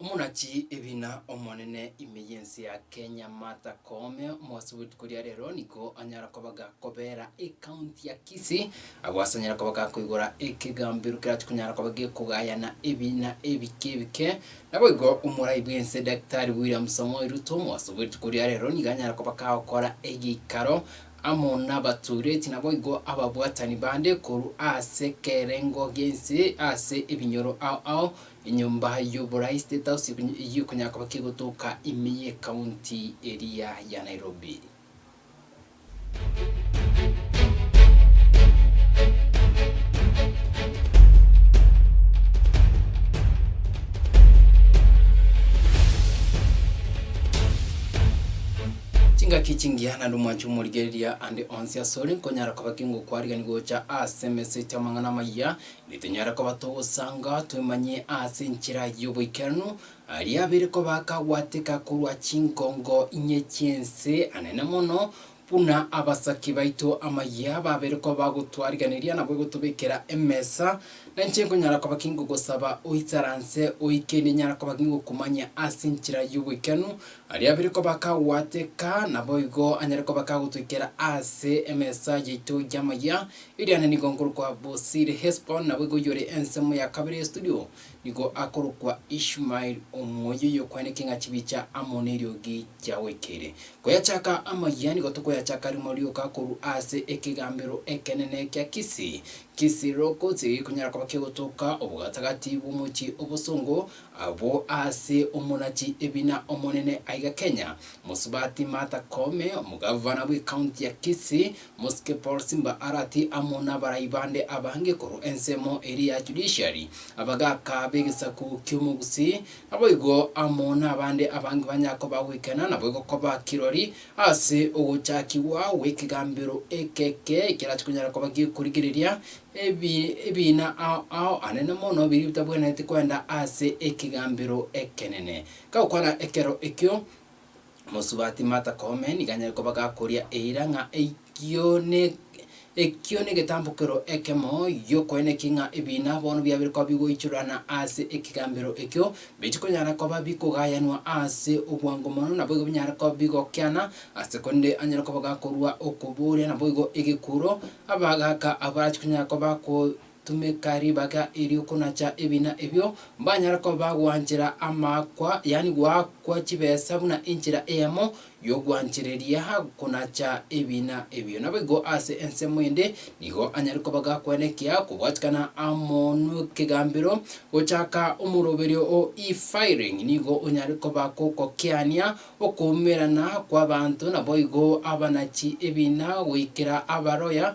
Omonachi ebina omonene ime y'ense ya Kenya Martha Koome omogose bwetuko ria rero nigo anyara koba gakobera ecounty ya Kisii agwo ase anyare koba gakoigora ekegambero kerachia konyara koba gekogayana ebina ebike ebike. Naboigo omorai bw'ense Daktari William Samoei Ruto omogose bwetuko ria rero nigo anyara koba gagokora egeikaro amo nabatoireti naboigo ababwatani bande korwa ase kerengo gense ase ebinyoro ao ao Enyomba y'oborais State House eyio konya koba kegotoka ime ye county eria ya Nairobi. Chingaki chingiya naende omwancho omorigereria ande onsi asore nkonyara koba kengokwarigani gocha ase emese ete amang'ana amaya Nitonyare koba togosanga twemanyie ase enchera y'oboikeranu aria abere koba akagwateka korwa chinkongo inye chi'ense, anene mono buna abasaki baito amayia babere koba bagotwarigereria nabo egotobekera emesa. Nainche nkonyara koba ki ngogosaba oisaranse oyi kende nyare koba ki ngokumanyia ase enchera y'oboikeranu aria abere koba akagwateka, naboigo anyare koba akagotoikera ase emesa yaito y'amayia Iriane nigo nkorokwa Bosiri Hesbon, nabo igo oyore ensemo ya kabere ya studio nigo akorokwa Ishmael, omoyio oyokwana ekeng'a chibicha amo neriogi gia goikeire. Koyachaka amayia nigo tokoyachaka rimo rioka korwa ase ekegambero ekenene kia Kisi, Kisi Locust, erio gikonyara koba kegotoka obogatagati bw'omochie obosongo abwo ase omonachi ebina omonene aiga Kenya, Mosubati Martha Koome, omogavana bw'ecounty ya Kisi, Mosike Paul Simba arati amo nabarai bande abange korwa ensemo eria ya Judiciary, abagaaka b'egesaku ki'omogusii, naboigo amo nabande abange banya koba goikena naboigo koba kirori ase ogochakigwa gw'ekegambero ekeke ekerache konyara koba gekorigereria ebiina ao anene mono biria bitabwenereti kwenda ase ekegambero ekenene. Gakwana ekero ekio, Mosubati Martha Koome nigo anyare koba gakoria eira ng'a eyio ne ekio negetambokero ekemo giokoeneki ng'a ebiina bono biabire koba bigoichorana ase ekegambero ekio, biche konyara koba bikogayanwa ase obwango mono, naboigo binyare koba bigokiana, ase korende anyare koba gakorua okoboria naboigo egekuro, abagaaka abwo barachi konyara koba bago Tumeka ribaga eri okonacha ebina ebio, mbanyare koba bagwanchera amaakwa, yaani goakwa chibesa buna enchera eyemo y'ogwanchereria gokonacha ebina ebio. Naboigo ase ensemo ende nigo anyare koba gakwenekea kobwatikana amo n'ekegambero gochaka omoroberio o e-filing, nigo onyare koba gokokiania okoumerana kw'abanto, naboigo abanachi ebina goikera abaroya